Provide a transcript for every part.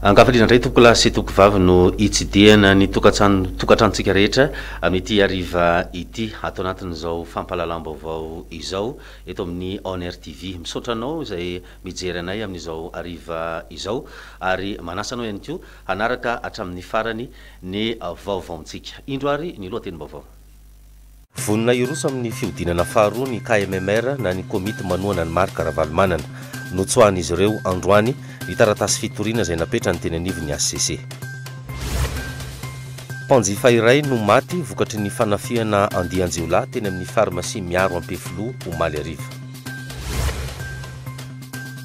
Ankafaliana indray tompokolahy sy tompokovavy no hitsidihana ny tokantrano tokantranontsika rehetra amin'ity hariva ity ato anatin'izao fampahalalam-baovao izao eto amin'ny On Air TV. Misaotra anao izay mijery anay amin'izao hariva izao ary manasa anao ihany koa hanaraka hatramin'ny farany ny vaovaontsika. Indro ary ny lohatenim-baovao. Vonona hiroso amin'ny fihodinana faharoa ny KMMR na ny komity manohana an'i Marc Ravalomanana. Notsoahan'izy ireo, androany, ny taratasy fitoriana izay napetrany teny anivon'ny hcc. Mpanjifa iray no maty vokatry ny fanafihana andian-jiolahy teny amin'ny farmasia Miaro Ampefiloha, omaly hariva.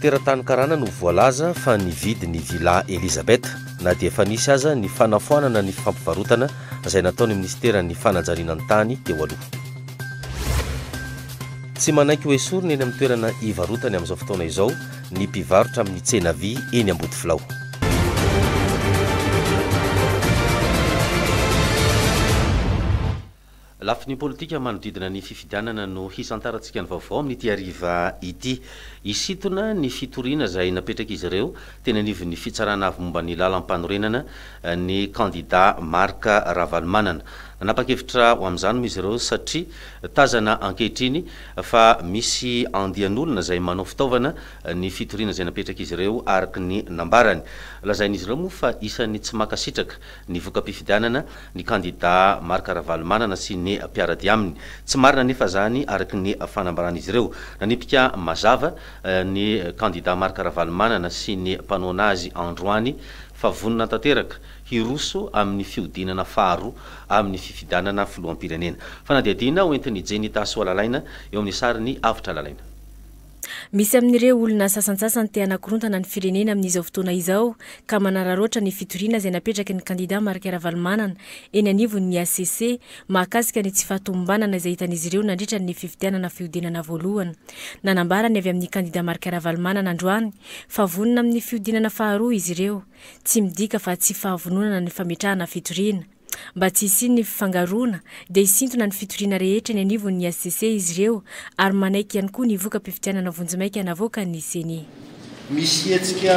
Teratany karana no voalaza fa nividy ny Villa Elizabeth, na dia efa nisy aza ny fanafoanana ny fampivarotana izay nataon'ny minisiteran'ny fanajariana ny tany teo aloha. Tsy manaiky ho esorina eny amin'ny toerana ivarotany amin'izao fotoana izao ny mpivarotra amin'ny tsena vy eny Ambodifilao. Lafiny politika manodidina ny fifidianana no hisantarantsika ny vaovao amin'ity hariva ity. Hisintona ny fitoriana izay napetrak'izy ireo teny anivon'ny Fitsarana avy momba ny Lalampanorenana, ny kandidà Marc Ravalomanana. Nanapa-kevitra ho amin'izany moa izy ireo satria tazana ankehitriny fa misy andian'olona izay manao fitaovana ny fitoriana izay napetrak'izy ireo araka ny nambarany. Lazain'izy ireo moa fa isan'ny tsy mankasitraka ny voka-pifidianana ny kandidà Marc Ravalomanana sy ny mpiara-dia aminy. Tsy marina anefa izany araka ny fanambaran'izy ireo. Nanipika mazava ny kandida Marc Ravalomanana sy ny mpanohana azy androany fa vonona tanteraka hiroso amin'ny fihodinana faharoa amin'ny fifidanana filoham-pirenena. Fanadihadiana hoentin'i Jenny Tasoalalaina eo amin'ny sarin'i Avotra Lalaina. Misy amin'ireo olona sasantsasany te hanakorontana ny firenena amin'izao fotoana izao ka manararaotra ny fitoriana izay napetraky ny kandida Marc Ravalomanana eny anivon'ny hcc mahakasika ny tsy fahatomombanana izay hitan'izy ireo nandritra ny fifidianana fihodinana voalohany. Nanambara ny avy amin'ny kandida Marc Ravalomanana androany fa vonona amin'ny fihodinana faharoa izy ireo. Tsy midika fa tsy fahavononana ny fametrahana fitoriana. Mba tsy hisian'ny fifangaroana dia hisintona ny fitoriana rehetra eny anivon'ny hcc izy ireo ary manaiky ihany koa ny voka-pifidianana vonjimaika navoakan'ny ceni. Misy hetsika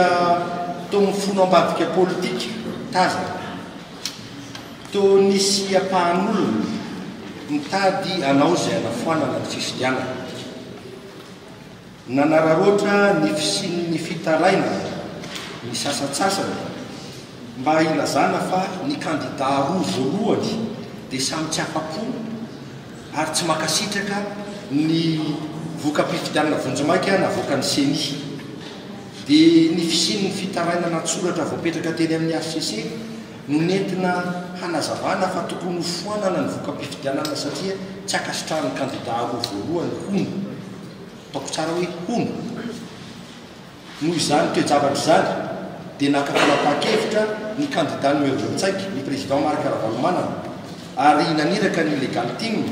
toa mifono ambadika politika tazana. Toa nisy ampahan'olona mitady hanao izay hanafoanana ny fifidianana. Nanararaotra ny fisian'ny fitarainana ny sasantsasany mba hilazana fa ny kandidà roa voalohany dia samy tsy afa-po. ary tsy mankasitraka ny voka-pifidianana vonjimaika navoakan'ny Ceni, dia ny fisian'ny fitarainana an-tsoratra voapetraka teny amin'ny hcc no nentina hanazavana fa tokony hofoanana ny voka-pifidianana satria tsy ankasitrahan'ny kandida roa voalohany, hono. Ataoko tsara hoe hono. Noho izany toe-javatra izany dia naka fanapahan-kevitra ny kandida numéro vingt cinq, ny président Marc Ravalomanana, ary naniraka ny Legal Team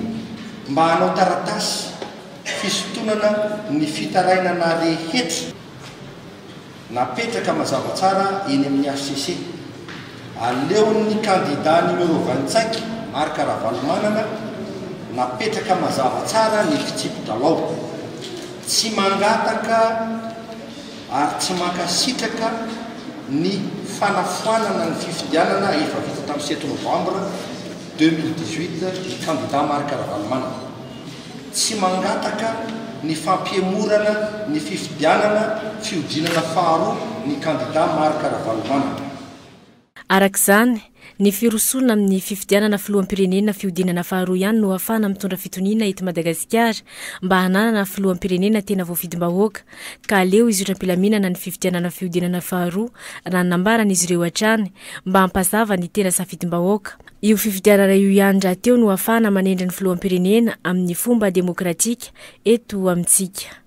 mba hanao taratasy fisintonana ny fitarainana rehetra napetraka mazava tsara eny amin'ny hcc. Aleon'ny kandida numéro vingt-cinq, Marc Ravalomanana, napetraka mazava tsara ny fitsipi-dralao. Tsy mangataka ary tsy mankasitraka ny fanafoanana ny fifidianana efa vita tamin'ny sept novambra deux mille dix-huit ny kandida Marc Ravalomanana. Tsy mangataka ny fampihemorana ny fifidianana fihodinana faharoa ny kandida Marc Ravalomanana. Araka izany, ny firosoana amin'ny fifidianana filoham-pirenena fihodinana faharoa ihany no ahafahana mitondra fitoniana eto Madagasikara mba hananana filoham-pirenena tena voafidim-bahoaka ka aleo hizotra am-pilaminana ny fifidianana fihodinana faharoa raha ny nambaran'izy ireo hatrany mba hampazava ny tena safidim-bahoaka. Io fifidianana io ihany rahateo no ahafahana manendry ny filoham-pirenena amin'ny fomba demokratika eto amintsika.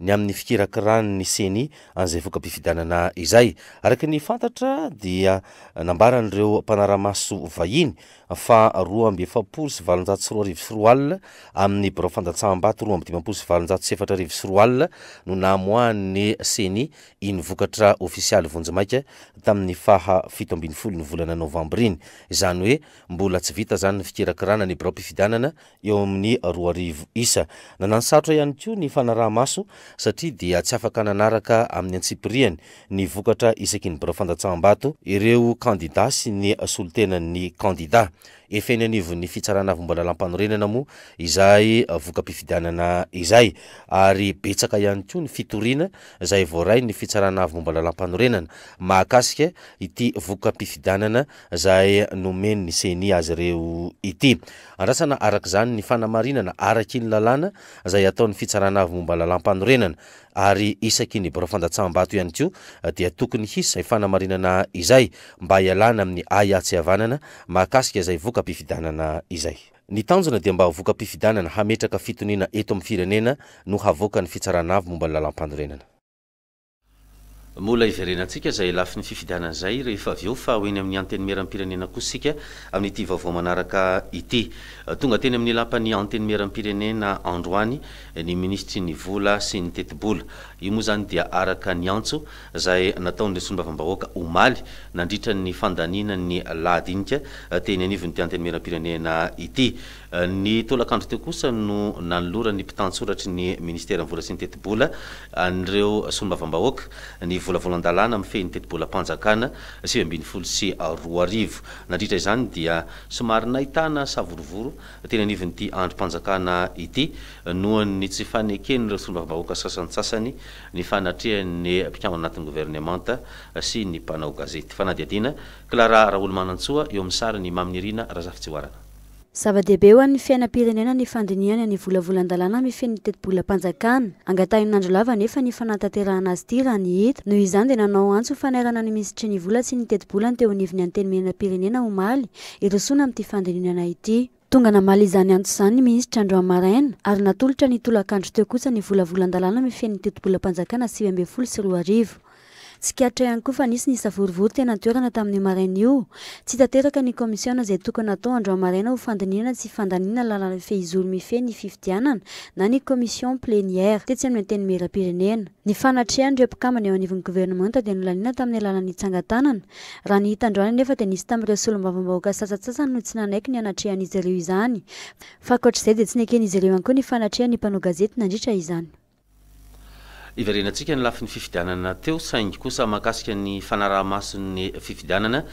ny amin'ny fikirakiràn'ny Ceni an'izay voka-pifidianana izay. Araka ny fantatra dia nambaran'ireo mpanara-maso vahiny fa roa amby efapolo sy valonjato sy roa arivo sy roa alina amin'ny birao fandatsaham-bato roa amby dimampolo sy valonjato sy efatra arivo sy roa alina no namoahan'ny Ceni iny vokatra ofisialy vonjimaika tamin'ny faha fito ambin'ny folo ny volana novambra iny. Izany hoe mbola tsy vita izany ny fikirakiràna ny biraom-pifidianana eo amin'ny roa arivo isa. Nananosarotra ihany koa ny fanaraha-maso satria dia tsy afaka nanaraka amin'ny antsipirihany ny vokatra isaky ny birao fandatsaham-bato ireo kandidà sy ny solontenan'ny kandidà. Efa eny anivon'ny Fitsarana Avombalalampanorenana moa izay voka-pifidianana izay ary betsaka ihany koa ny fitoriana izay voarain'ny Fitsarana Avombalalampanorenana mahakasika ity voka-pifidianana izay nomen'ny ceni azy ireo ity. Andrasana araka izany ny fanamarinana araky ny lalàna izay ataon'ny Fitsarana Avo momba Lalàmpanorenana, ary isaky ny birao fandatsaham-bato ihany koa dia tokony hisy izay fanamarinana izay mba hialana amin'ny ahiahy tsy havanana mahakasika izay voka-pifidianana izay. Ny tanjona dia mba ho voka-pifidianana hametraka fitoniana eto amin'ny firenena no havoakan'ny Fitsarana Avo momba ny Lalàmpanorenana. Mbola hiverenantsika izay lafiny fifidianana izay rehefa avy eo fa ho eny amin'ny Antenimierampirenena kosa isika amin'ity vaovao manaraka ity. Tonga teny amin'ny lapan'ny Antenimierampirenena androany ny minisitry ny Vola sy ny Tetibola. Io moa izany dia araka ny antso izay nataon'ireo solombavambahoaka omaly nandritra ny fandaniana ny lahadinika teny anivon'ity Antenimierampirenena ity. Ny tolakandro teo kosa no nanoloran'ny mpitantsoratry ny minisiteran'ny vola sy ny tetibola an'ireo solombavambahoaka ny volavolan-dalàna mifehy ny tetibolam-panjakana sivy ambin'ny folo sy roa arivo. Nandritra izany dia somary nahitana savorovoro teny anivon'ity andrim-panjakana ity noho ny tsy faneken'ireo solombavambahoaka sasantsasany ny fanatrehan'ny mpikambana anatin'ny governemanta sy ny mpanao gazety. Fanadihadiana, Clara Raholy Manantsoa, eo amin'ny sarin'i Maminirina Razafitsihoarana. Zava-dehibe ho an'ny fiainam-pirenena ny fandinihana ny volavolan-dalàna mifehy ny tetibolam-panjakana. Angatahin'Andry Lava anefa ny fanatanterahana azy ity raha ny hita. Noho izany dia nanao antso ho fanairana ny Minisitry ny Vola sy ny Tetibola ny teo anivon'ny Antenimierampirenena omaly hirosoana amin'ity fandininana ity. Tonga namaly izany antso izany ny Minisitra androany maraina ary natolotra ny tolakandro teo kosa ny volavolan-dalàna mifehy ny tetibolam-panjakana sivy ambin'ny folo sy roa arivo. Tsikaritra ihany koa fa nisy ny savorovoro teny an-toerana tamin'io maraina io. Tsy tanteraka ny kaomisiona izay tokony hatao androany maraina ho fandinihana tsy fandaniana lalana fehizoro mifehy ny fifidianana na ny commission plénière tetsy amin'ny Antenimierampirenena. Ny fanatrehan'ireo mpikambana eo anivon'ny governemanta dia nolaniana tamin'ny alalan'ny tsangan-tanana. Raha ny hita androany anefa dia nisy tamin'ireo solombavambahoaka sasantsasany no tsy nanaiky ny hanatrehan'izy ireo izany fa ankoatr'izay dia tsy neken'izy ireo ihany koa ny fanatrehan'ny mpanao gazety nandritra izany. Hiverenantsika ny lafiny fifidianana teo saingy kosa mahakasika ny fanaraha-mason'ny fifidianana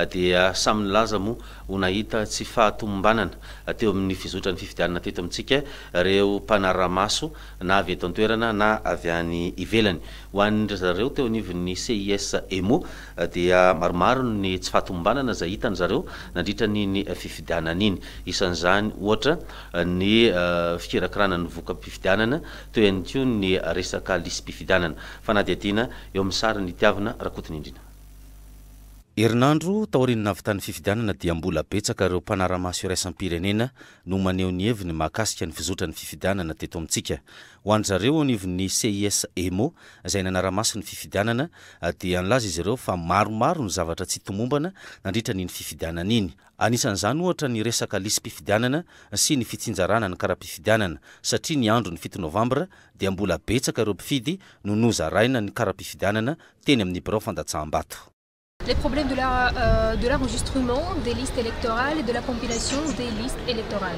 dia samy nilaza moa ho nahita tsy fahatomombanana teo amin'ny fizotran'ny fifidianana teto amintsika ireo mpanarahamaso na avy eto an-toerana na avy any ivelany. Ho an'ndry zareo teo anivon'ny CIS Emo dia maromaro ny tsy fahatomombanana izay hitan'ny zareo nandritra an'iny fifidianana iny. Isan'izany ohatra ny fikirakirana ny voka-pifidianana, toy ihany koa ny resaka lisi-pifidianana. Fanadihadiana eo amin'ny sary ny Tiavina Rakotonindrina. Herinandro taorian'ny nahavitan'ny fifidianana dia mbola betsaka ireo mpanara-maso iraisam-pirenena no maneho ny heviny mahakasika ny fizotran' ny fifidianana teto amintsika. Ho an-dry zareo eo anivon'ny CIS Emo izay nanara-maso ny fifidianana dia nilaza izy ireo fa maromaro ny zavatra tsy tomombana nandritra an' iny fifidianana iny. Anisan'izany ohatra ny resaka lisi-pifidianana sy ny fitsinjarana ny kara-pifidianana, satria ny andron'ny fito novambra dia mbola betsaka ireo mpifidy no nozaraina ny kara-pifidianana teny amin'ny birao fandatsaham-bato. Les problèmes de la de l'enregistrement des listes électorales et de la compilation des listes électorales.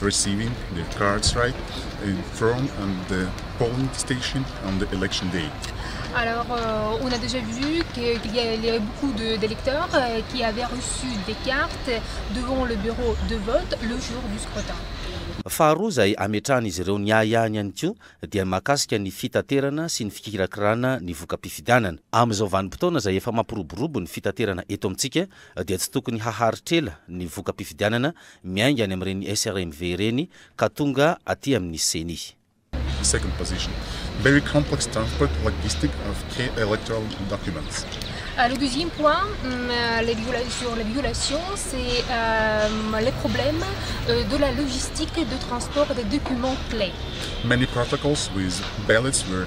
receiving their cards right and from and the polling station on the election day. Alors, euh, on a déjà vu qu'il y, y, a beaucoup d'électeurs de, euh, qui avaient reçu des cartes devant le bureau de vote le jour du scrutin. Faharoa izay ametrahan'izy ireo ny ahiahiny ihany koa dia ny mahakasika ny fitaterana sy ny fikirakirana ny voka-pifidianana. Amin'izao vanim-potoana izay efa mampiroborobo ny fitaterana eto amintsika dia tsy tokony haharitra ela ny voka-pifidianana miainga any amin'ireny SRMV ireny ka tonga aty amin'ny Ceni. Second position, Very complex transport, logistic of key electoral documents. Le deuxième point, sur les violations, c'est les problèmes de la logistique de transport des documents clés. Many protocols with ballots were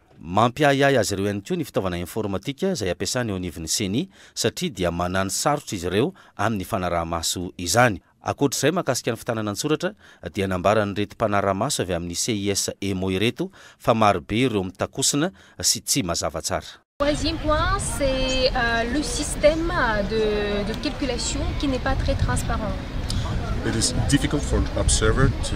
Mampiahiahy azy ireo ihany koa ny fitaovana informatika izay ampiasany eo anivon'ny Ceni satria dia manano sarotra izy ireo amin'ny fanaraha-maso izany. Ankoatra izay, mahakasika ny fitanana an-tsoratra dia nambaran'ireto mpanara-maso avy amin'ny CIS Emo ireto fa marobe ireo mitakosina sy tsy mazava tsara. Troisième point, c'est le système de de calculation qui n'est pas très transparent. It is difficult for an observer to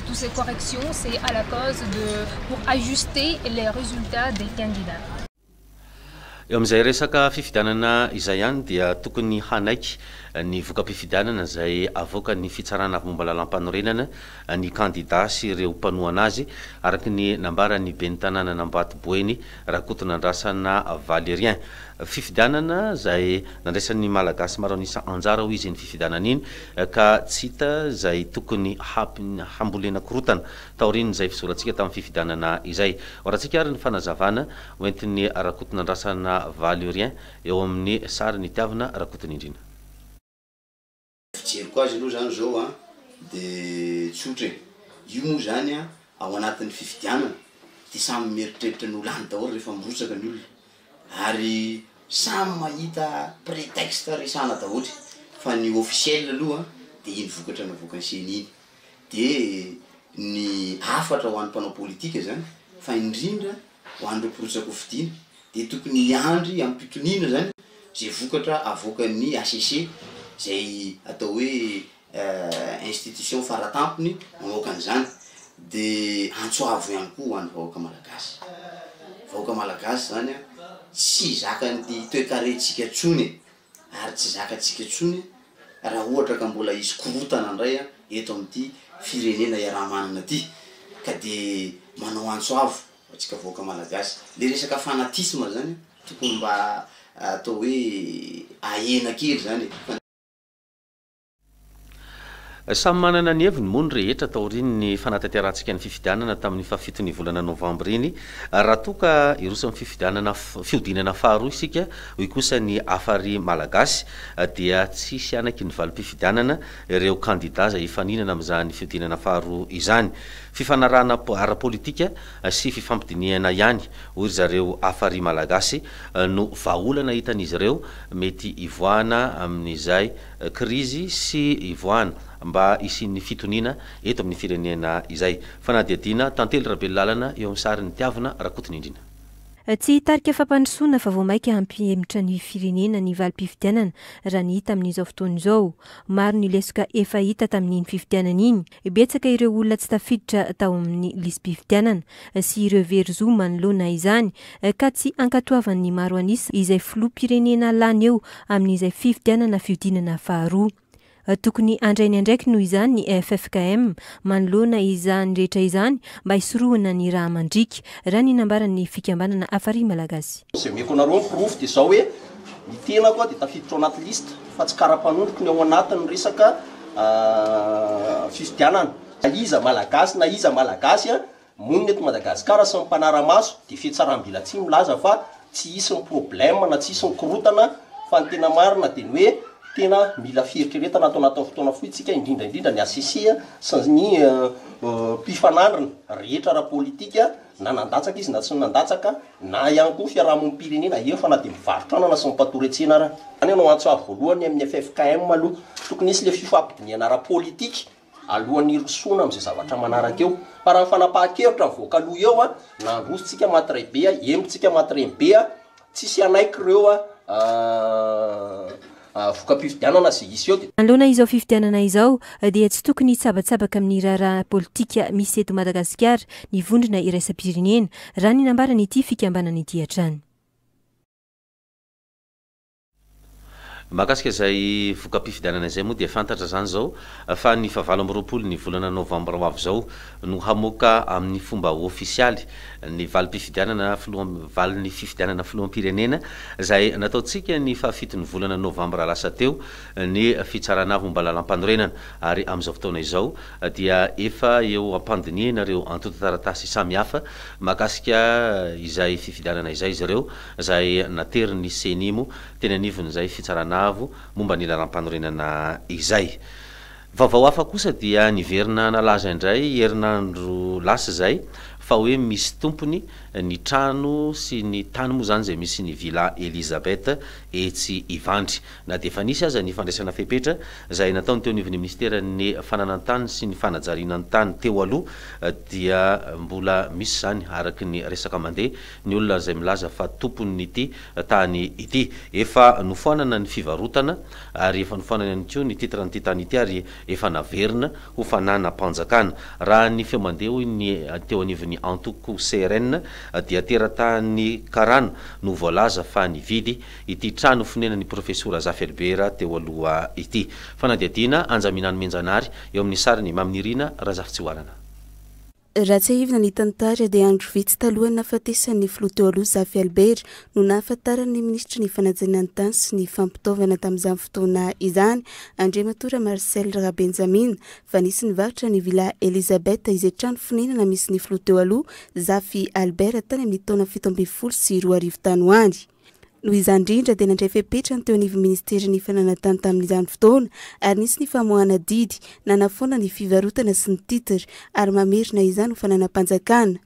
Tous ces corrections c'est à la cause de pour ajuster les resultats des candidats. Eo amin'izay resaka fifidianana izay ihany dia tokony hanaiky ny voka-pifidianana izay avoakan'ny Fitsarana avy momba Lalàmpanorenana ny kandida sy ireo mpanohana azy, araka ny nambaran'ny ben'ny tanànan'Ambatoboeny, Rakotonandrasana Valérien. Fifidianana izay nandraisan'ny Malagasy maro an'isa anjara hoy izy iny fifidianana iny ka tsy hita izay tokony hambolena korotana taorian'izay fizorantsika tamin'ny fifidianana izay. Hoarantsika ary ny fanazavana hoentin'i Rakotonandrasana Valérien eo amin'ny sarin'i Tiavina Rakotonindrina. Fijeriko azy aloha zany zao an, de tsotra e, io moa zany an ao anatin'ny fifidianana de samy mieritreritra ny ho lany daholo rehefa mirotsaka ny olona, ary samy mahita prétexte resahana daholo, fa ny officiel aloha de iny vokatra navoakan'ny ceni iny. dia ny hafatra ho an'ny mpanao politika izany fa indrindra ho an'ireo mpirotsak'o fidiana dia tokony hiandry amim-pitoniana izany izay vokatra avoakan'ny HCC izay atao hoe institution faratampony mamoaka an'izany dia antso avo ihany koa ho an'ny vahoaka malagasy vahoaka malagasy izany an tsy zakan'ny toekarentsika intsony e! ary tsy zakantsika intsony raha ohatra ka mbola hisy korontana indray eto amin'ity firenena iaraha-manana ity ka dia manao antso avo ho antsika vahoaka malagasy. Ilay resaka fanatisme izany tokony mba atao hoe ahena kely izany e! Samy manana ny heviny moa ny rehetra taorian'ny fanatanterahantsinka ny fifidianana tamin'ny fahafiton'ny volana novambra iny raha toa ka hiroso amin'ny fifidianana fihodinana faharoa isika hoy kosa ny Hafari Malagasy dia tsy hisy hanaky ny valim-pifidianana ireo kandida izay hifaninana amin'izany fihodinana faharoa izany. Fifanarahana ara-politika sy fifampidinihana ihany hoy ry zareo Hafari Malagasy no vahaolana hitan'izy ireo mety hivoahana amin'izay krizy sy hivoahana mba hisian'ny fitoniana eto amin'ny firenena izay. Fanadihadiana, Tantely Rabelolàlana eo amin'ny sarin'i Tiavina Rakotonindrina. Tsy hitarika fampandrosoana fa vao mainka hampihemotra ny firenena ny valim-pifidianana raha ny hita amin'izao fotoana izao. Maro ny lesoka efa hita tamin'iny fifidianana iny. Betsaka ireo olona tsy tafiditra tao amin'ny lisi-pifidianana sy ireo very zo manoloana izany ka tsy ankatoavan'ny maro an'isa izay filoham-pirenena lany eo amin'izay fifidianana fihodinana faharoa. Tokony handray ny andraikiny noho izany ny ffkm manoloana izany rehetra izany mba hisorohana ny raha mandriaka, raha ny nambaran'ny fikambanana Afarihy Malagasy. Izay omeko anareo ny porofo dia izao hoe. Ny tenako dia tafiditra ao anaty liste fa tsy karapanondroko ny ao anatin'ny resaka fifidianana. Na iza Malagasy na iza Malagasy monina eto Madagasikara sy ny mpanara-maso dia fihatsaram-belatsihy milaza fa tsy hisy ny problème na tsy hisy ny korontana fa ny tena marina dia ny hoe tena mila fieritreretana ato anatin'ny fotoana fohy isika indrindra indrindra ny HCC sy ny mpifanandrina rehetra ara-politika na nandatsaka izy na tsy nandatsaka na ihany koa fiarahamonim-pirenena efa na dia mivarotra anana sy mipatory an-tsena ara. Izany ianao antso avo voalohany amin'ny ffkm aloha. Tokony hisy ilay fifampidinihana ara-politika alohan'ny hirosoana amin'izay zavatra manaraka eo. Fa raha ny fanapahan-kevitra mivoaka aloha eo, na handroso-tsika matiray be, hembo-tsika matireny be, tsisy hanaiky ireo voka-pifidianana sy hiseho teto. Manoloana izao fifidianana izao dia tsy tokony hitsabatsabaka amin'ny raharaha politika misy eto Madagasikara ny vondrona iraisam-pirenena, raha ny nambaran'ity fikambanana ity hatrany. Mahakasika izay voka-pifidianana izay moa dia fantatra izany izao fa ny fahavalo amby roapolo ny volana novambra ho avy izao no hamoaka amin'ny fomba ofisialy ny valim-pifidianana filoha, valin'ny fifidianana filoham-pirenena izay nataontsika ny fahafiton'ny volana novambra lasa teo ny fitsarana momba lalampanorenana ary amin'izao fotoana izao dia efa eo am-pandinihana ireo antontan-taratasy samihafa mahakasika izay fifidianana izay izy ireo izay naterin'ny Ceni moa teny anivon'izay fitsarana momba ny lalampanorenana izay. Vaovao hafa kosa dia niverina nalaza indray herinandro lasa izay fa hoe misy tompony ny trano sy ny tany moa izany izay misy ny Villa Elisabeth etsy Ivandry. Na dia efa nisy aza ny fandraisana fepetra izay nataony teo anivon'ny minisiteran'ny Fananan-tany sy ny Fanajariana ny tany teo aloha dia mbola misy izany araka ny resaka mandeha ny olona izay milaza fa tompon'ity tany ity. Efa nofoanana ny fivarotana ary efa nofoanana ihany koa ny titre an'ity tany ity ary efa naverina ho fananam-panjakana. Raha ny feo mandeha hoy ny teo anivon'ny antoko CRN dia teratany karana no voalaza fa nividy ity trano fonenan'ny profesora Zaferibera teo aloha ity. Fanadihadiana, Anjaminano Mianjanary, eo amin'ny sariny, Maminirina Razafitsihoalana. Raha tsiahivina ny tantara dia andro vitsy talohan'ny nahafatesan'ny filoha teo aloha Zafy Albert no nahafantaran'ny minisitry ny fanajana ny tany sy ny fampitaovana tamin'izany fotoana izany, Andriamatoa Ramarcel Rabenjamina, fa nisy nivarotra ny Villa Elisabeth izay trano fonenana misy ny filoha teo aloha Zafy Albert tany amin'ny taona fito ambin'ny folo sy roa arivo tany ho any. Noho izany indrindra dia nandray fepetra ny teo anivon'ny Ministerin'ny Fananan-tany tamin'izany fotoana ary nisy ny famoahana didy nanafoana ny fivarotana sy ny titre ary mamerina izany ho fananam-panjakana.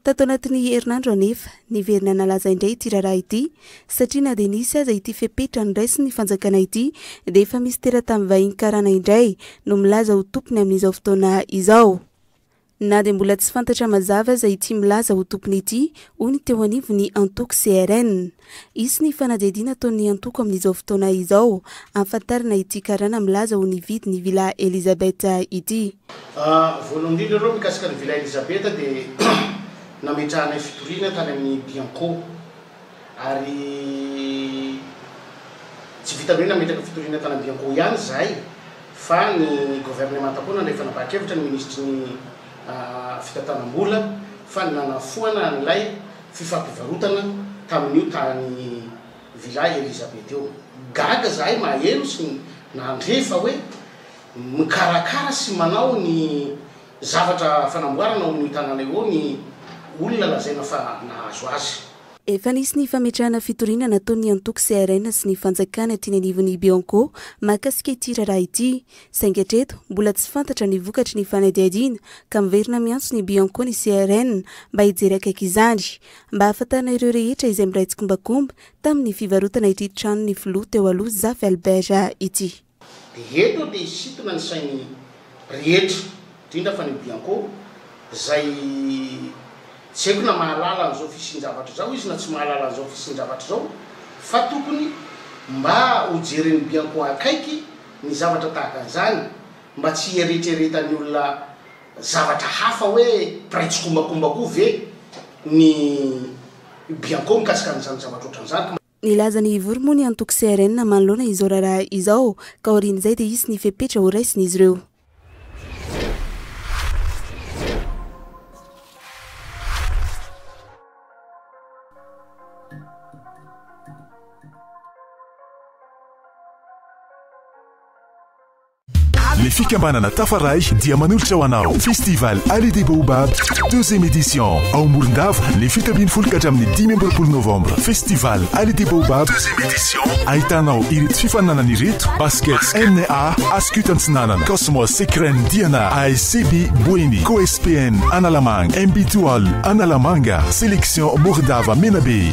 Tato anatin'ny herinandro anefa, niverina nalaza indray ity raharaha ity satria na dia nisy aza ity fepetra noraisin'ny fanjakana ity dia efa misy teratany vahiny karana indray no milaza ho tompony amin'izao fotoana izao. Na dia mbola tsy fantatra mazava aza ity milaza ho tompony ity, hoy ny teo anivon'ny antoko CRN. Hisy ny fanadihadiana ataon'ny antoko amin'izao fotoana izao, hahafantarana ity karana milaza ho nividy ny Villa Elisabeth ity. Voalohany indrindra aloha mikasika ny Villa Elisabeth dia nametrahanay fitoriana tany amin'ny Bianco. ary tsy vitan'ny hoe nametraka fitoriana tany Ambiankoho ihany izahay fa ny governemanta koa nandray fanapahan-kevitra ny minisitry ny fitantanam-bola fa nanafoana an'ilay fifampivarotana tamin'io tany Villa Elisabeth io. Gaga izahay maheno sy nandre fa hoe mikarakara sy manao ny Zavatra fanamboarana ao amin'io tanàna io ao ny olona lazaina fa nahazo azy. Efa nisy ny fametrahana fitoriana nataon'ny antoko CRN sy ny fanjakana aty ny anivon'ny Bianco mahakasika ity raharaha ity. Saingy hatreto, mbola tsy fantatra ny vokatry ny fanadihadiana ka miverina miantso ny Bianco ny CRN mba hijery akaiky izany mba hahafantarana ireo rehetra izay miray tsikombakomba tamin'ny fivarotana ity tranon'ny filoha teo aloha Zafy Albert ity. Dia eto dia hisintona ny sain'ny rehetra, indrindra fa ny Bianco, izay tsy haiko na mahalala an'izao fisian-javatra izao izy na tsy mahalala an'izao fisian-javatra izao, fa tokony mba hojeren'ny Bianco akaiky ny zavatra tahaka an'izany, mba tsy hieretreretan'ny olona zavatra hafa hoe mpiray tsikombakomba koa ve ny Bianco mikasika an'izany zavatra ohatran'izany. Nilaza ny Ivory moa ny antoko CRN manoloana izao raharaha izao ka aorian'izay dia hisy ny fepetra horaisin'izy ireo. Le fikambanana Tafaray dia manolotra ho anao Festival Allée des Baobabs deuxième édition ao Morondava ny fito ambin'ny folo ka hatramin'ny dimy amby roapolo novambra. Festival Allée des Baobabs deuxième édition ahitanao ireto fifaninanana ireto, basket NA Ascut Antsinanana, Cosmos Secren Diana, ASCB Boeny, COSPN Analamanga, MB Toal Analamanga, Sélection Morondava Menabe.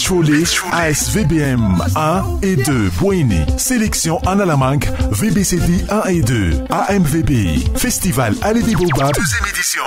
Chole, AS VBM 1 et 2 Boeny, Sélection Analamanga, VBCD 1 et 2, AMVB, Festival Allée des Baobabs, deuxième édition.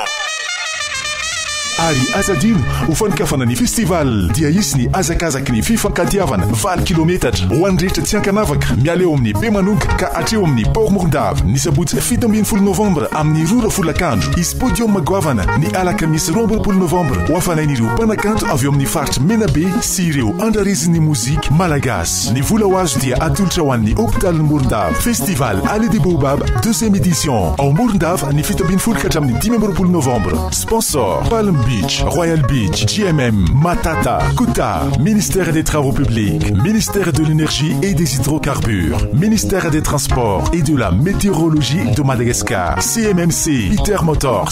Ary aza adino, ho fanokafana ny festival dia hisy ny hazakazaky ny fifankatiavana valo kilometatra ho an'ny rehetra tsy ankanavaka miala eo amin'ny Bemanonka ka hatreo amin'ny Port Morondava, ny sabotsy fito ambin'ny folo novambra amin'ny roa ora folakandro. Hisy podium goavana ny alakamisy roa amby roapolo novambra ho hafanain'ireo mpanakanto avy ao amin'ny faritra. Menabe sy ireo andrarezin'ny mozika malagasy. Ny vola ho azo dia atolotra ho an'ny hopitalin'i Morondava. Festival Allée des Baobabs, deuxième édition, ao Morondava, ny fito ambin'ny folo ka hatramin'ny dimy amby roapolo novambra. Sponsor, Palm Beach, Royal Beach, GMM, Matata, Kuta, Ministère des Travaux Publics, Ministère de l'Energie et des Hydrocarbures, Ministère des Transports et de la Météorologie de Madagascar, CMMC, Peter Motors,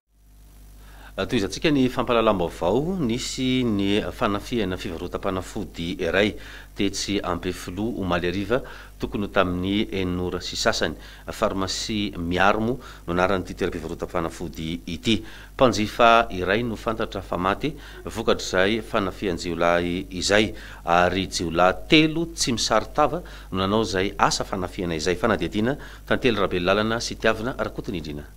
Tohizantsika ny fampahalalam-baovao nisy ny fanafihana fivarotam-panafody iray tetsy Ampefiloha omaly hariva tokony ho tamin'ny enina ora sy sasany. Farmasia Miarmo no anaran'ity toeram-pivarotam-panafody ity. Mpanjifa iray no fantatra fa maty vokatr'izay fanafihan-jiolahy izay ary jiolahy telo tsy misaron-tava no nanao izay asa fanafihana izay. Fanadihadiana, Tantely Rabelolalana sy Tiavina Rakotonindrina.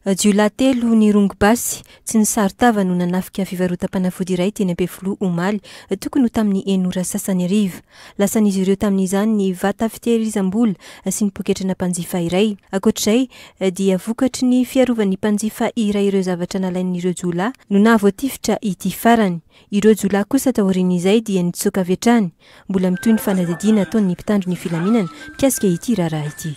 Jiolahy telo nirongo basy tsy nisaron-tava no nanafika fivarotam-panafody iray teny Ampefiloha omaly, tokony ho tamin'ny enina ora sasany hariva. Lasan'izy ireo tamin'izany ny vata fitehirizam-bola sy ny poketrana mpanjifa iray. Ankoatr'izay dia vokatry ny fiarovan'ny mpanjifa iray ireo zavatra nalain'ireo jiolahy no nahavoatifitra ity farany. Ireo jiolahy kosa taorian'izay dia nitsoaka avy hatrany. Mbola mitohy ny fanadihadiana ataon'ny mpitandro ny filaminana mikasika ity raharaha ity.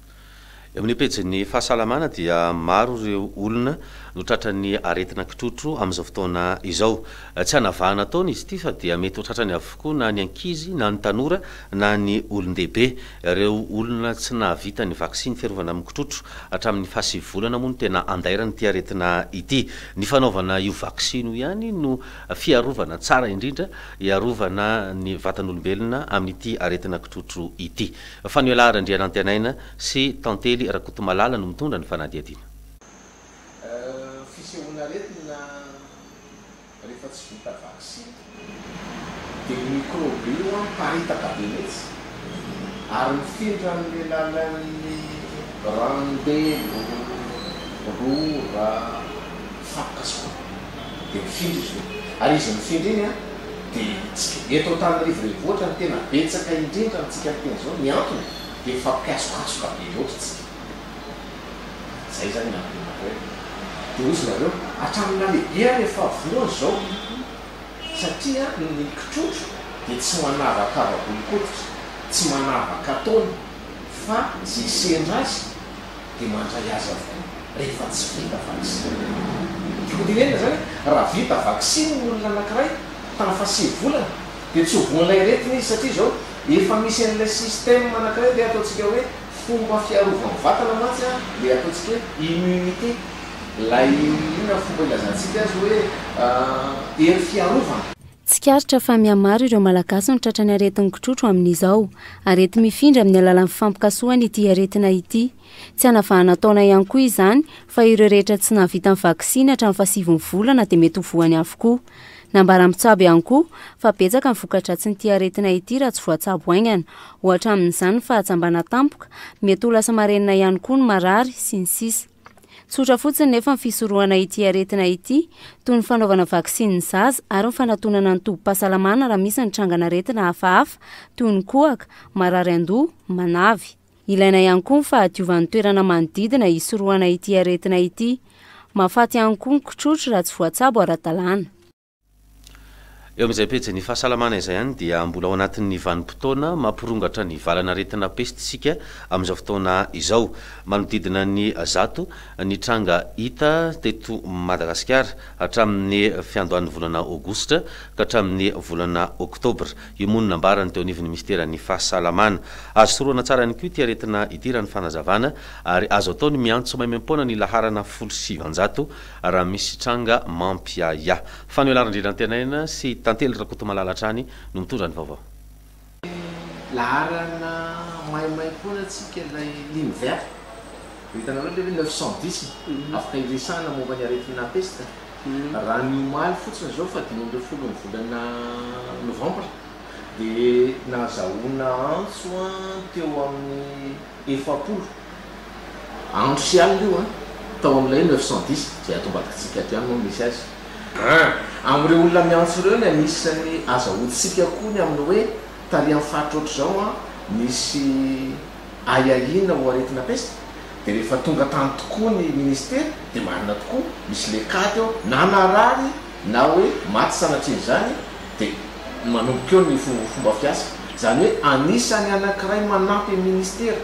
Eo amin'ny pejin'ny fahasalamana dia maro ireo olona no tratran'ny aretina kitrotro amin'izao fotoana izao. Tsy hanavahana taona izy ity fa dia mety ho tratrany avokoa na ny ankizy na ny tanora na ny olon-dehibe. Ireo olona tsy nahavita ny vaksiny fiarovana amin'ny kitrotro hatramin'ny fahasivy volana moa no tena andairan'ity aretina ity. Ny fanaovana io vaksiny io ihany no fiarovana tsara indrindra hiarovana ny vatan'olombelona amin'ity aretina kitrotro ity. Fanoelah Randrianantenaina sy Tantely Rakotomalala no mitondra ny fanadihadiana. Fisehoan'aretina rehefa tsy vita vaksiny dia io mikrôby io miparitaka be mihitsy ary mifindra amin'ny alalan'ny ranombelo, rora, fako kasoka. dia mifindra izy ireo. Ary izy mifindra iny an, dia hitsika. Eto Antananarivo Renivohitra no tena betsaka indrindra amintsika ny teny izao. Ny antony dia mifampikasokasoka be loatra isika. Izay izany ny antony anareo e. Dia hoy izy nareo, hatramin'ny nalehibehan'ny eo fahavolony izao, satria ny kitrotro dia tsy manavakava volon-koditra, tsy manavaka taona. fa izay sendra azy dia mandray azy avokoa rehefa tsy vita vaksiny. Tokony tenenina izany hoe raha vita vaksiny ny olona anankiray tamin'ny fahasivy volana dia tsy ho voan'ilay aretina izy satria izao efa misy an'ilay système anankiray ilay ataontsika hoe fomba fiarovany vatana mantsy ilay ataontsika hoe immunité ilay inona fomba ilazantsika azy hoe hery fiarovana. Tsikaritra fa mihamaro ireo Malagasy no tratran'ny aretin'ny kitrotro amin'izao. Areti-mifindra amin'ny alalan'ny fifampikasohana ity aretina ity. Tsy hanavahana taona ihany koa izany fa ireo rehetra tsy nahavita ny vaksiny hatramin'ny fahasiviny volana dia mety ho voany avokoa. Nambaran'ny mpitsabo ihany koa fa betsaka ny voka-dratsin'ity aretina ity raha tsy voatsabo haingana, ohatra amin'izany ny fahajambana tampoka, mety ho lasa marenina ihany koa ny marary, sy ny sisa. Tsotra fotsiny nefa ny fisorohana ity aretina ity, toy ny fanaovana vaksiny ny zaza ary ny fanatonana ny tobim-pahasalamana raha misy ny trangan'aretina hafahafa, toy ny kohaka, marary an-doha, manavy. Ilaina ihany koa ny fahadiovan'ny toerana manodidina hisorohana ity aretina ity. Mahafaty ihany koa ny kitrotro raha tsy voatsabo ara-dalàna. Eo amin'izay pejy ny fahasalamana izay ihany dia mbola ao anatin'ny vanim-potoana mampirongatra ny valan'aretina pesta isika amin'izao fotoana izao. Manodidina ny zato ny tranga hita teto Madagasikara hatramin'ny fiandohan'ny volana aogositra ka hatramin'ny volana oktobra. Io moa no nambarany teo anivon'ny minisiteran'ny fahasalamana. Azo toroana tsara ihany koa ity aretina ity raha ny fanazavana ary azo atao ny miantso maimaim-poana ny laharana folo sy sivinjato Raha misy tranga mampiahiahy. Fanoe Larin-dry Rantenaina sy Tantely Rakotomalala hatrany no mitondra ny vaovao. Ny laharana maimaimpoana antsika ilay ligne verte. Efa hitanareo ilay hoe neuf cent dix afaka hiresahana momba ny aretina pesta. Raha ny omaly fotsiny izao faha dimy ambin'ny folo ny volana novambra dia nahazahoana antso teo amin'ny efapolo. Andro sy alina io an! Tao amin'ilay neuf cent dix, izay ato ambadikantsika ato ihany moa no misy azy. Ah! Amin'ireo olona miantso ireo ny anisan'ny azahoantsika koa ny amin'ny hoe tarihan'ny faritra ohatr'izao an, nisy ahiahiana ho aretina pesta, dia rehefa tonga tany tokoa ny minisitera, dia marina tokoa, misy lekady ao, na narary na hoe maty sanatrian'izany, dia manomboka eo ny fomba fiasa. Izany hoe anisan'ny anankiray manampy ny minisitera.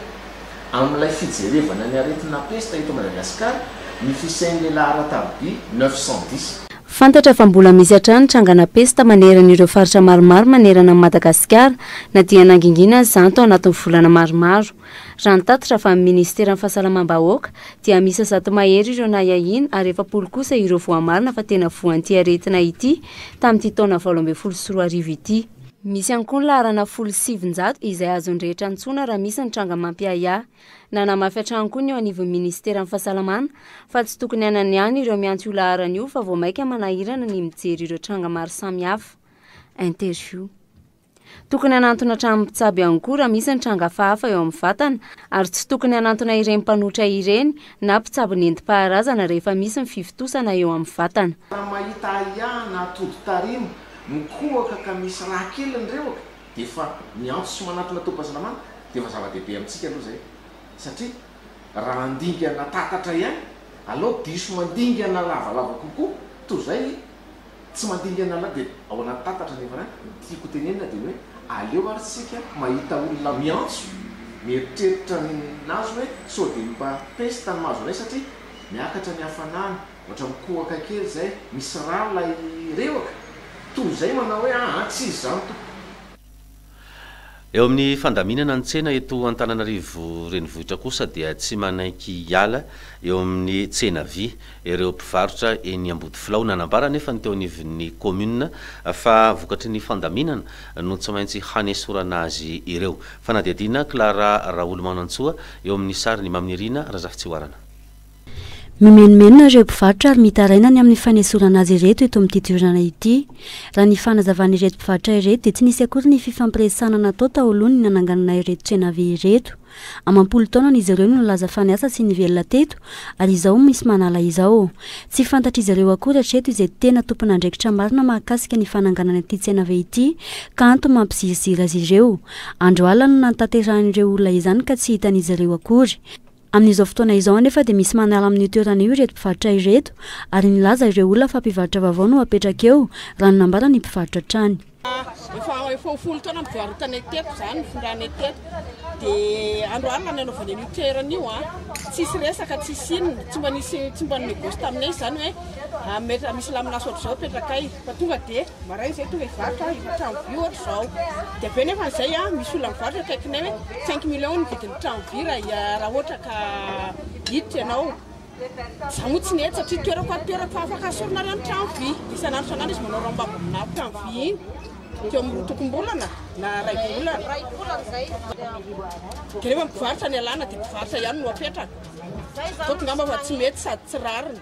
Amin'ilay fijerevana ny aretina pesta eto Madagasikara, ny fisian'ny lehilahy ara-tarobia neuf cent dix. Fantatra fa mbola misy hatrany trangana pesta manerana ireo faritra maromaro manerana an'i Madagasikara na dia nangingina aza izany tao anatin'ny volana maromaro. Raha ny tatitra avy amin'ny minisiteran'ny Fahasalamam-bahoaka dia miisa zato mahery ireo nahiahiana ary efapolo kosa ireo voamarina fa tena voan'ity aretina ity tamin'ity taona valo ambin'ny folo sy roa arivo ity. Misy ihany koa ny laharana folo sy sivinjato izay azon'ny rehetra antsoina raha misy ny tranga mampiahiahy. Nanamafy hatrany koa ny eo anivon'ny minisiteran'ny Fahasalamana fa tsy tokony hanany ihany ireo miantso io laharana io fa vao maika manahirana ny mijery ireo tranga maro samihafa. Interview. Tokony hanantona hatramin'ny mpitsabo ihany koa raha misy ny tranga hafahafa eo amin'ny vatana ary tsy tokony hanantona ireny mpanotra ireny na mpitsabo nentim-paharazana rehefa misy ny fivontosana eo amin'ny vatana. Raha mahita ahiahy na todi-tarimo mikohaka ka misy rà kely ny rewaka dia efa miantso sy manatona tobim-pahasalamana dia efa zava-dehibe amintsika aloha izay satria raha handingana tatatra ihany alao diso mandingana lavalava kokoa toy izay tsy mandingana la dia ao anaty tatatra nefa an ny tiako ho tenenina dia ny hoe aleo ary tsika mahita olona miantso mieritreritra ny nazy hoe sao dia mba pesta ny mahazo anay satria miakatra ny hafanana Ohatra mikohaka kely zay, misy ra lay rehwaka, toy izay manao hoe ah ah tsy izy zany tompoko. Eo amin'ny fandaminana ny tsena eto Antananarivo renivohitra kosa dia tsy manaiky hiala eo amin'ny tsena vy ireo mpivarotra eny Ambodifilao. Nanambara anefa ny teo anivon'ny kaominina fa vokatry ny fandaminana no tsy maintsy hanesorana azy ireo. Fanadihadiana, Clara Raolomanantsoa eo amin'ny sary, ny Maminirina Razafitsihoarana. Mimenomenona ireo mpivarotra ary mitaraina ny amin'ny fanesorana azy ireto eto amin'ity toerana ity. Raha ny fanazavan'ireto mpivarotra ireto dia tsy nisy akory ny fifampiresahana natao taolohany ny nananganana ireto tsena vy ireto. Amam-polo taonany izy ireo no nilaza fa niasa sy nivelona teto ary izao misy manala izao. Tsy fantatr'izy ireo akory hatreto izay tena tompon'andraikitra marina mahakasika ny fananganana ity tsena vy ity ka antony mampiziriziry azy ireo. Andro alina no nantaterahan'ireo olona izany ka tsy hitan'izy ireo akory. Amin'izao fotoana izao anefa dia misy manala amin'io toerana io ireto mpivarotra ireto ary nilaza ireo olona fa mpivarotra vaovao no apetraka eo, raha ny nambaran'ny mpivarotra hatrany. Efa efa ho folo taona nivarotanay teto izany, nifindranay teto. Dia andro alina nanaovana an'io toerana io. Tsisy resaka, tsisy inona. Tsy mba nisy, tsy mba ni-négoce taminay izany hoe misy lamin'asa ohatr'izao apetrakay. Fa tonga de maraina zay tonga hivarotra efa trano vy ohatra izao de avy eo nefa an'izay a misy olona mivarotra akaikinay hoe cinq millions ny vidin'ny trano vy raha raha ohatra ka hiditra ianao za moa tsy nety satria toerako ato toerako fa afaka asorinareo ny trano vy de isan'andro isan'andro izy manao ramba na trano vy iny teo amin'ny roa tokom-bolana na ray volana ray volana zay de rehefa mivarotra ny alana de mivarotra ihany no apetraka toa tonga mba fa tsy mety sady tsy rariny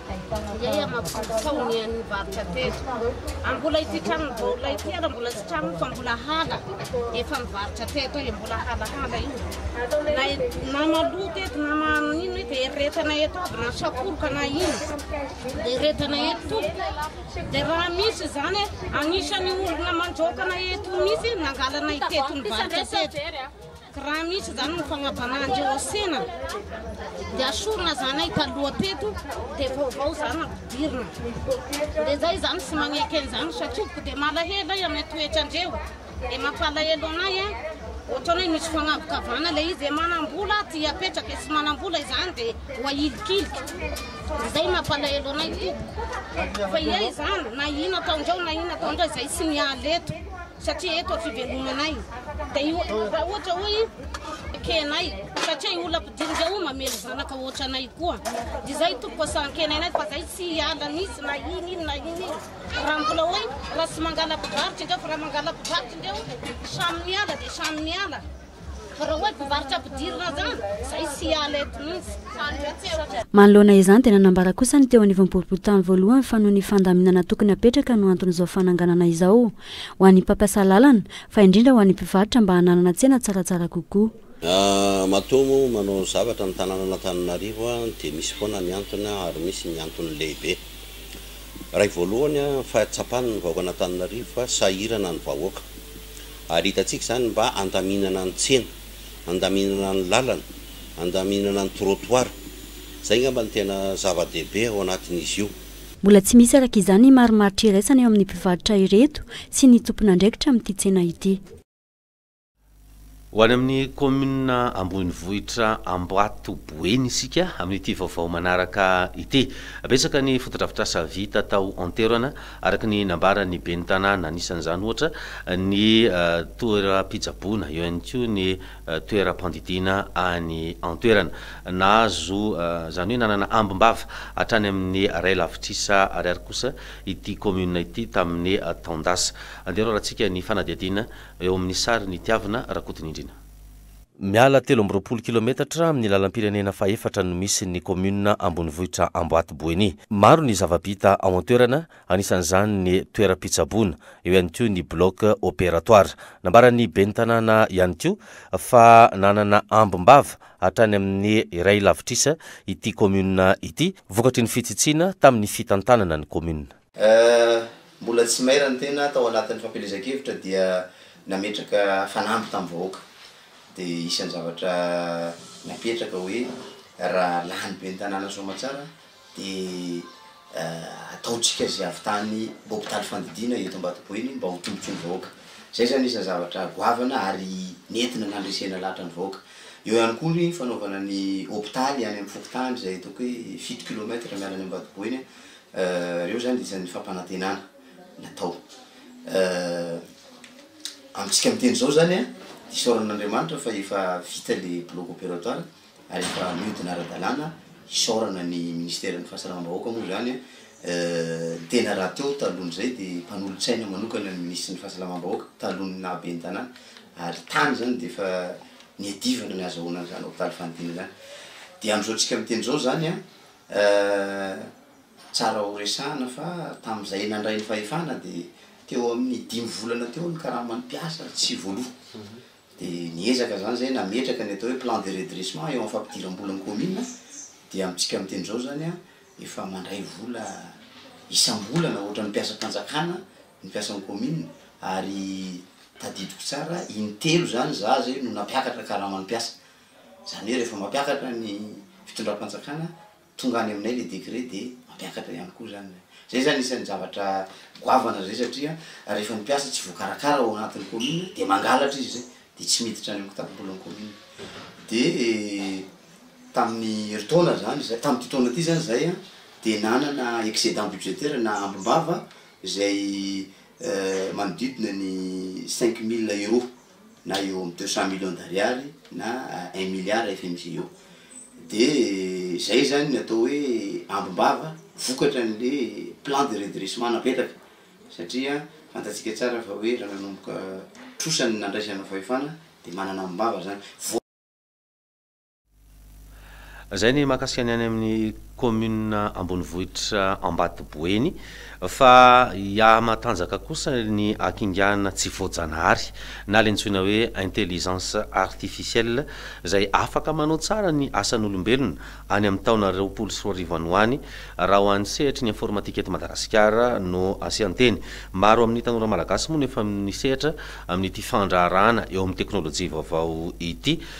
Iay aho mampitory sao ny an'ny varotra teto. Ary mbola ity tranon'ny baolina ity ary mbola tsy tranony fa mbola hala efa mivarotra teto eo, mbola halahala io. Na, na maloto eto na manino eto dia eretana eto aby na sakoroka na ino dia eretana eto tompoko. Dia raha misy izany anisan'ny olona mandraokana eto mihitsy nangalana iteto ny varotra teto. Raha misy zany ny fagnajanah ndry osena de asorina zanay taloha teto de vaovao zany ampidirina de zay zany sy magneke anzany satropoko de malahelo ahy amy toetra ndreo de mampalahelo anay a ohatrany hoe misy fagnavokavana le izy manambola aty apetraka de tsy manambola izany de ho ahilikiliky de zay mampalahelo anay tompoko fa ia izany na ina ataondreo na ina ataondreo zay tsy miala eto Satria eto fivelonanay dia io raha ohatra hoe ekenay satria io olona mpidinika io mamely zanaka ohatra anay koa dia izay tompoko asahan-kena anay fa izay tsy hiala mihitsy na iny iny na iny iny raha mbola hoe raha tsy mangala mpivarotra indreo fa raha mangala mpivarotra indreo samy miala dia samy miala Fa raha hoe mpivarotra ampidirina zany, zay tsy hiala eto mihitsy. Manoloana izany dia nanambara kosa ny teo anivon'ny boriborintany voalohany fa noho ny fandaminana tokony hapetraka no anton'izao fananganana izao ho an'ny mpampiasa lalana fa indrindra ho an'ny mpivarotra mba hananana tsena tsaratsara kokoa. Matoa moa manao zavatra ny tanànan'Antananarivo dia misy foana ny antony ary misy ny antony lehibe. Iray voalohany ny fahatsapan'ny vahoakan'Antananarivo fa sahirana ny vahoaka. Ary hitantsika izany mba handaminana ny tsena, handaminana ny lalana, handaminana ny trottoir. Izay angamba no tena zava-dehibe ao anatin'izy io. Mbola tsy misy araka izany ny marimaritra iraisana eo amin'ny mpivarotra ireto sy ny tompon'andraikitra amin'ity tsena ity. Ho any amin'ny kaominina ambonivohitra Ambohipo Boeny isika amin'ity vaovao manaraka ity. Betsaka ny fotodrafitrasa vita tao an-toerana. araka ny nambaran'ny ben'ny tanàna. Anisan'izany ohatra ny toeram-pitsaboana, eo ihany koa ny toeram-pandidiana any an-toerana. Nahazo, izany hoe nanana ambim-bava hatrany amin'ny ray lavitrisa ariary kosa ity kaominina ity tamin'ny taon-dasa. Andeha iraorantsika ny fanadihadiana eo amin'ny sarin'i Tiavina Rakotonindrina. Miala telo amby roapolo kilometatra amin'ny lalam-pirenena fahefatra no misy ny kaominina ambonivohitra Amboaty Boeny. Maro ny zava-bita ao an-toerana, anisan'izany ny toeram-pitsaboana, eo ihany koa ny bloc opératoire. Nambaran'ny ben'ny tanàna ihany koa fa nanana ambim-bava hatrany amin'ny iray lavitrisa ity kaominina ity, vokatry ny fitsitsiana tamin'ny fitantanana ny kaominina. Eh, mbola tsy maire ny tena tao anatin'ny fampielezan-kevitra dia nametraka fanamby tamin'ny vahoaka. Dia isan'ny zavatra napetraka hoe raha lany ben'ny tanàna soamatsara dia eh, ataontsika izay havitan'ny hopitaly fandidiana eto Ambatoboeny mba ho tombotsoa ny vahoaka. Izay izany isan'ny zavatra goavana ary nentina nandresena lahatra ny vahoaka. Eo ihany koa ny fanaovana ny hopitaly any amin'ny fokontany izay ataoko hoe fito kilomètre miala any Ambatoboeny Ireo izany dia isan'ny fampanantenana natao amintsika miteny izao izany an! Isaorana an'Andriamanitra fa efa vita ilay bloc opératoire ary efa mihodina ara-dalàna, isaorana ny Minisiteran'ny Fahasalamam-bahoaka moa izany an! Ny tena rahateo talohan'izay dia mpanolotsaina manokana ny Minisitry ny Fahasalamam-bahoaka talohan'ny naha Ben'ny Tanàna ary tany izany dia efa niadivana ny hazahoana an'izany hopitaly fanidina izany. Dia amin'izao antsika miteny izao izany an! Euh tsara ho resahana fa tamin'izay nandray ny fahefana dia teo amin'ny dimy volana teo ny karaman'ny mpiasa ary tsy voaloa. Dia niezaka izany izay nametraka ny atao hoe plan de redressement eo amin'ny fampidiram-bola ny commune dia amintsika amin'ny teny izao izany efa mandray vola isam-bolana ohatran'ny mpiasam-panjakana ny mpiasan'ny commune ary tadidiko tsara intelo izany izaho izay no nampiakatra karaman'ny mpiasa Izany hoe rehefa mampiakatra ny fitondram-panjakana tonga any aminay ilay décret dia mampiakatra ihany koa izany ilay. Izay izany isan'ny zavatra goavana izay satria rehefa ny mpiasa tsy voakarakara ao anatin'ny commune dia mangalatra izy izay dia tsy miditra any amin'ny kitapobolan'ny commune. Dia tamin'ny herintaona izany izay, tamin'ity taona ity izany izay an, dia nanana excédent budgétaire na ambim-bava izay manodidina ny cinq mille euros. na eo amin'ny deux cent millions d'ariary na un milliard fmg eo, dia izay izany ny atao hoe ambim-bava vokatra an'le plan de redressement napetraka, satria fantatsika tsara fa hoe raha nanomboka trosa ny nandraisana fahefana dia manana ambim-bava izany. Izay ny mahakasika ny any amin'ny kaominina ambonivohitra Ambatoboeny fa i Ahamatanjaka kosa ny akingana tsy voajanahary na ilay antsoina hoe intelligence artificielle izay afaka manao tsara ny asan'olombelona any amin'ny taona roapolo sy roa arivo any ho any raha ho an'ny sehatry ny informatika eto Madagasikara no asian-teny. Maro amin'ny tanora malagasy moa no efa nisehatra amin'ity fandraharahana eo amin'ny teknolojia vaovao ity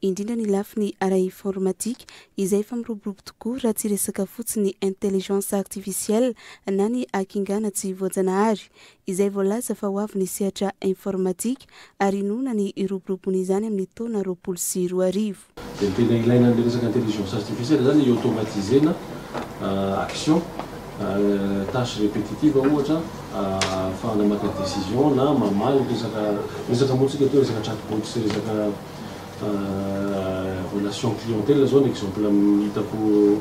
indrindra ny lafiny ara-informatika izay efa miroborobo tokoa raha tsy resaka fotsiny intelligence artificielle na ny hakingana tsy voajanahary izay voalaza fa ho avy ny sehatra informatika ary inoana ny hiroborobony izany amin'ny taona roapolo sy roa arivo. Dia ny tena ilaina an'ilay resaka intelligence artificielle izany i automatise-na action. Tâche répétitive ohatra, ahafahana maka décision na mamaly resaka, resaka moa tsika atao resaka chatbot sy resaka relation clientèle zao ny exemple hitako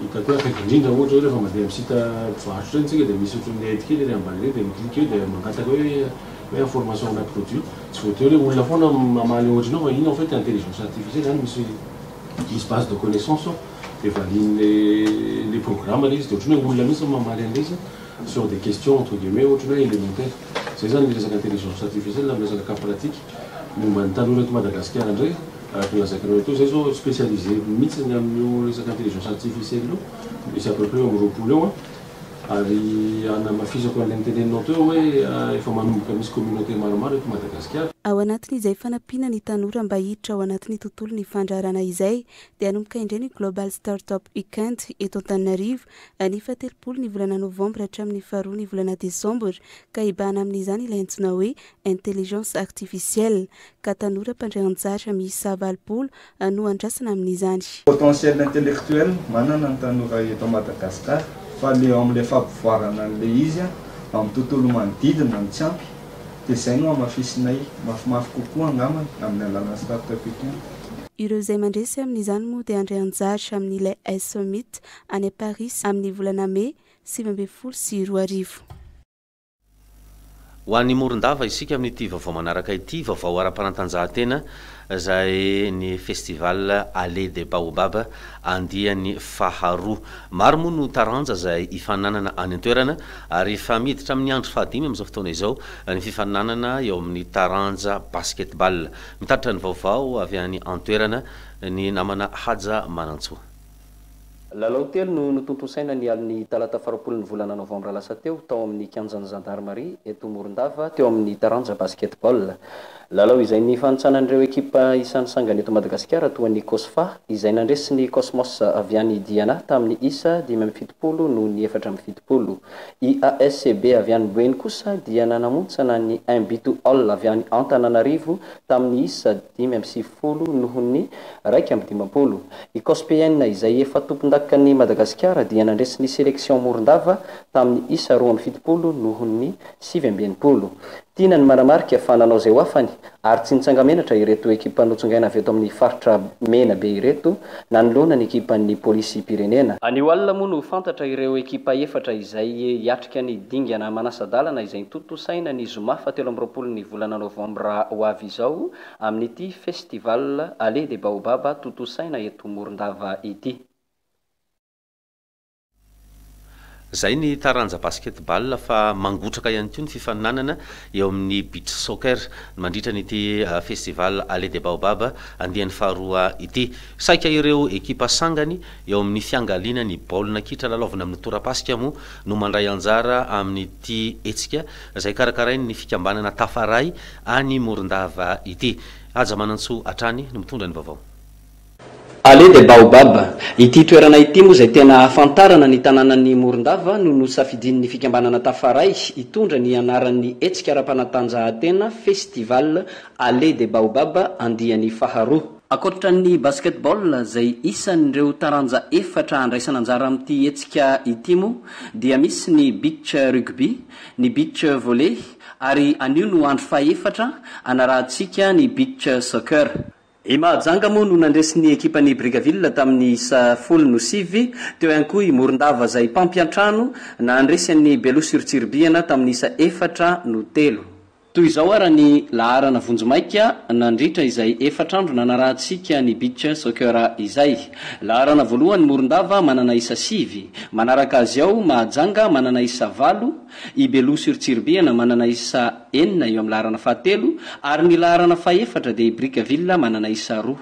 hitako hoe akaiky indrindra ohatra hoe rehefa mandeha amin'ny site mpivarotra ireny tsika dia misy ohatran'ny aide kely ery ambany ery dia mi clique eo dia mangataka hoe hoe information ana produit, tsy voatery hoe olona foana mamaly ohatra anao fa iny en fait intelligence artificielle any misy Dizy base de connaissance aho dia valian'le le programme le izy dia ohatran'ny hoe olona mihitsy no mamaly an'le izy sur des questions entre guillemets ohatran'ny hoe élémentaire. Zay zany ny resaka intelligence artificielle amin'ny resaka cas pratique momba ny tanora eto Madagasikara indray araka ny lazaiko anareo teo. Zay zao specialisé mihitsy ny amin'io resaka intelligence artificielle io misy à peu près eo amin'ny roapolo eo an. Ary hanamafisako an'ilay noteneninao teo hoe efa manomboka misy communauté maromaro eto Madagasikara. Ao anatin'izay fanampiana ny tanora mba hiditra ao anatin'ny tontolon'ny fandraharana izay dia hanomboka indray ny Global Startup Weekend eto Antananarivo ny fahatelopolo ny volana novambra hatramin'ny faharoa ny volana desambra ka hibahana amin'izany ilay antsoina hoe Intelligence Artificielle ka tanora mpandray anjara miisa valopolo no andrasana amin'izany. Potentiel intellectuel manana ny tanora eto Madagascar fa le eo amle fapivoarana anle izy amin'ny tontolo manodidina no tsy ampy de zay no hamafisinay mafimafy kokoa angambany amin'ny alalan'ny startup etoana. Ireo izay mandresy amin'izany moa dia handray anjara amin'ilay iSummit any Paris amin'ny volana Mey sivy ambin'ny folo sy roa arivo. Ho an'i Morondava isika amin'ity vaovao manaraka ity, vaovao ara-panatanjahantena izay ny Festival Allée des Baobabs andiany faharoa. Maro moa no taranja izay hifaninanana any an-toerana ary efa miditra amin'ny andro fahadimy amin'izao fotoana izao ny fifaninanana eo amin'ny taranja Basketball. Mitatitra ny vaovao avy any an-toerana ny namana Haja Manantsoa. Lalao telo no notontosaina ny alin'ny talata farapolin'ny volana novambra lasa teo, tao amin'ny kianjan'ny zandarimaria eto Morondava, teo amin'ny taranja basket-ball. Lalao izay nifanintsanan'ireo ekipa isan'ny sangany eto Madagasikara, toa ny Cosfa, izay nandresy ny Cosmos avy any Diana tamin'ny isa dimy amby fitopolo noho ny efatra amby fitopolo. IASCB avy any Boeny kosa dia nanamontsana ny Imbitu All avy any Antananarivo tamin'ny isa dimy amby sivifolo. folo noho ny iraika amby dimampolo. I Cospn, izay efa tompondakan'i Madagasikara, dia nandresy ny selection Morondava tamin'ny isa roa amby fitopolo noho ny sivy amby enimpolo. Tiana ny manamarika fa nanao izay ho afany ary tsy nitsanga-menatra ireto ekipa notsongaina avy eto amin'ny faritra Menabe ireto nanoloana ny ekipan'ny Polisim-pirenena. Anio alina moa no ho fantatra ireo ekipa efatra izay hiatrika ny dingana manasa-dalana izay notontosaina ny zoma fahatelo amby roapolo ny volana novambra ho avy izao amin'ity Festival Allée des Baobabs tontosaina eto Morondava ity. Izay ny taranja basketball fa mangotraka ihany koa ny fifaninanana eo amin'ny beach soccer mandritra an'ity Festival Allée des Baobabs andiany faharoa ity. Saika ireo ekipa sangany eo amin'ny fiangaliana ny baolina kitra lalaovina amin'ny tora-pasika moa no mandray anjara amin'ity hetsika. izay karakarain' ny fikambanana Tafaray any Morondava ity. Haja Manantsoa hatrany no mitondra ny vaovao. Allée des Baobabs, Ity toerana ity moa izay tena ahafantarana ny tanànan' i Morondava no nosafidin' ny fikambanana Tafaray hitondra ny anaran' ny hetsika ara-panatanjahantena Festival Allée des Baobabs andiany faharoa. Ankoatra ny basketball izay isan' ireo taranja efatra handraisana anjara amin' ity hetsika ity moa dia misy ny beach rugby, ny beach volley ary anio no andro fahefatra anarahantsika ny beach soccer. I Mahajanga moa no nandresy ny ekipan'i Brickaville tamin'ny isa folo no sivy, teo ihany koa i Morondava izay mpampiantrano nandresy an'i Belo sur Tsiribihana tamin'ny isa efatra no telo. Toy izao ara ny laharana vonjimaika nandritra izay efatra andro nanarahantsika ny Beach Soccer izay. Laharana voalohany Morondava manana isa sivy, manaraka azy ao Mahajanga manana isa valo, i Beloha sur Tsiribihana manana isa enina eo amin'ny laharana fahatelo ary ny laharana fahefatra dia i Brickaville manana isa roa.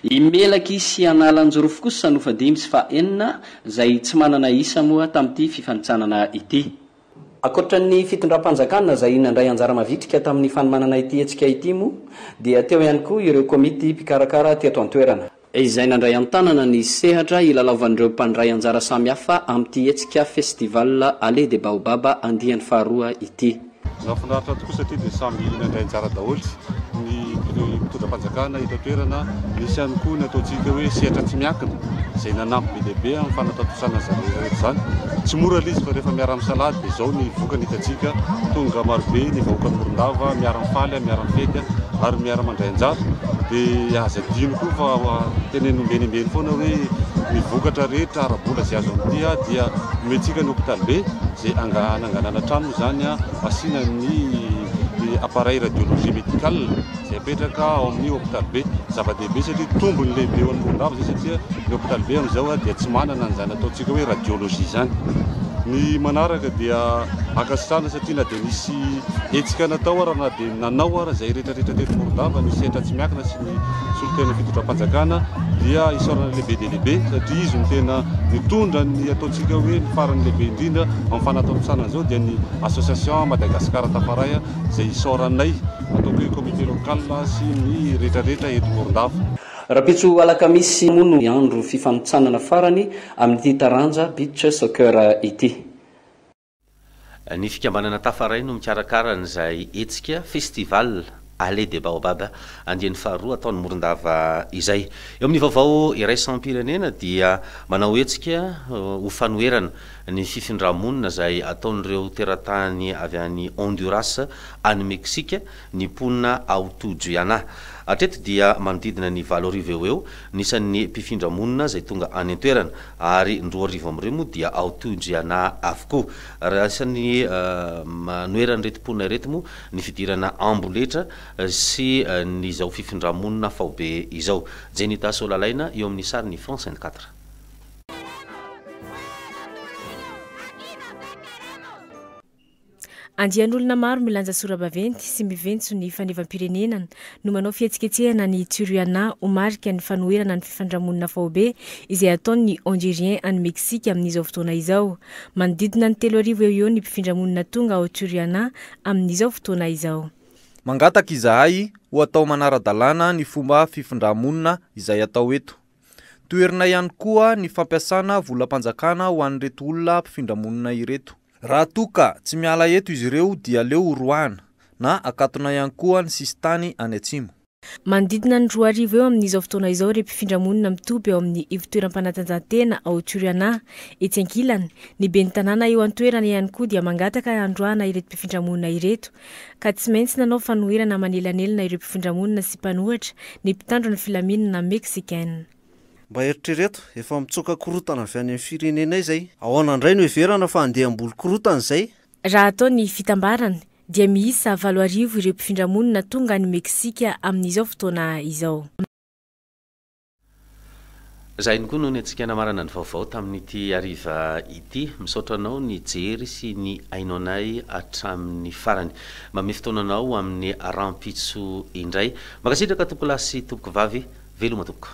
I Melaky sy Analanjirofo kosa no fahadimy sy fahenina izay tsy manana isa moa tamin'ity fifanintsanana ity. Ankoatra ny fitondram-panjakana izay nandray anjara mavitrika tamin'ny fanomanana ity hetsika ity moa dia teo ihany koa ireo komity mpikarakara teto an-toerana, izay nandray an-tanana ny sehatra hilalaovan'ireo mpandray anjara samihafa amin'ity hetsika Festival Allée des Baobabs andiany faharoa ity. Nahafinaritra tokoa satria dia samy nandray anjara daholo. ny mpitondra fanjakana eto an-toerana, nisy ihany koa ny ataontsika hoe sehatra tsy miankina izay nanampy be dia be amin'ny fanatantosaina an'izany rehetra rehetra izany. Tsy mora ilay izy fa rehefa miara-misalahy dia izao ny vokany hitantsika, tonga marobe ny vahoakan'i Morondava miara-mifaly, miara-mifety ary miara-mandray anjara. Dia aza adino koa fa teneno omben'embeny foana hoe ny vokatra rehetra ara-bola izay azo amin'ity dia omentsika ny hopitalibe izay hananganana trano moa izany, asiana ny. dia appareil radiologie médical izay apetraka ao amin'ny hôpital be. Zava-dehibe satria tombony lehibe ho an'ny mpandalo izay satria ny hôpital be amin'izao dia tsy manana an'izany ataontsika hoe radiologie izany. Ny manaraka dia ankasitrahana satria na dia nisy hetsika natao ary na dia nanao ary izay rehetrarehetra teto Morondava ny sehatra tsy miankina sy ny solontenan'ny fitondram-panjakana dia isaorana lehibe dia lehibe satria izy no tena nitondra ny ataontsika hoe ny farany lehibe indrindra amin'ny fanatontosana an'izao dia ny association Madagascar Tafaray izay isaoranay ataoko hoe comité local sy ny rehetra rehetra eto Morondava. Rahampitso alakamisy moa no andro fifanotsanana farany amin'ity taranja beach soccer ity. Ny fikambanana Tafaray no mikarakara an'izay hetsika, festival, Allée des Baobabs, andiany faharoa atao ny Morondava izay. Eo amin'ny vaovao iraisam-pirenena dia manao hetsika ho fanoherana ny fifindrà-monina izay ataon'ireo teratany avy any Honduras any Meksika ny mponina ao Tujuyanah. Hatreto dia manodidina ny valo arivo eo ho eo ny isan'ny mpifindra monina izay tonga any an-toerana ary ny roa arivo amin'ireo moa dia ao Tujuyanah avokoa. Raha isan'ny manoheran'ireto mponina ireto moa ny fidirana amboletra sy ny izao fifindra-monina faobe izao. Jenita Solalaina eo amin'ny sarin'ny France vingt quatre. Andian'olona maro milanja sora-baventy sy miventso ny fanevam-pirenenan no manao fihetsiketsehana any Tijuana ho marika ny fanoherana ny fifindra-monina faobe izay ataon'ny Hondurien any Meksika amin'izao fotoana izao. Manodidina ny telo arivo eo ho eo ny mpifindra-monina tonga ao Tijuana amin'izao fotoana izao. Mangataka izahay ho atao manara-dalàna ny fomba fifindrà-monina izay atao eto. Toherina ihany koa ny fampiasana volam-panjakana ho an'ireto olona mpifindra-monina ireto. Raha toa ka tsy miala eto izy ireo dia aleo horoahana na akatona ihany koa ny sisintany any atsimo. Manodidina ny roa arivo eo amin'izao fotoana izao ireo mpifindramonina mitoby ao amin'ny ivon-toeram-panatanjahantena ao Turiana. Etsy ankilany, ny ben'ny tanàna eo an-toerana ihany koa dia mangataka handroahana ireto mpifindramonina ireto. Ka tsy maintsy nanao fanoherana manelanelana ireo mpifindramonina sy mpanohatra ny mpitandro ny filaminana Meksikana. Mba eritrereto, efa mitsoaka korontana avy any amin'ny firenenay izay. Ahoana indray no heverana fa handeha hamboly korontana izay? Raha atao ny fitambarana, dia miisa valo arivo ireo mpifindra monina tonga any Meksika amin'izao fotoana izao. Za ihany koa no niantsika namarana ny vaovao tamin'ity hariva ity. Misaotra anao nijery sy nihaino anay hatramin'ny farany. Mamehy fotoana anao ho amin'ny rahampitso indray. Mankasitraka tompokolahy sy tompokovavy. Veloma tompoko.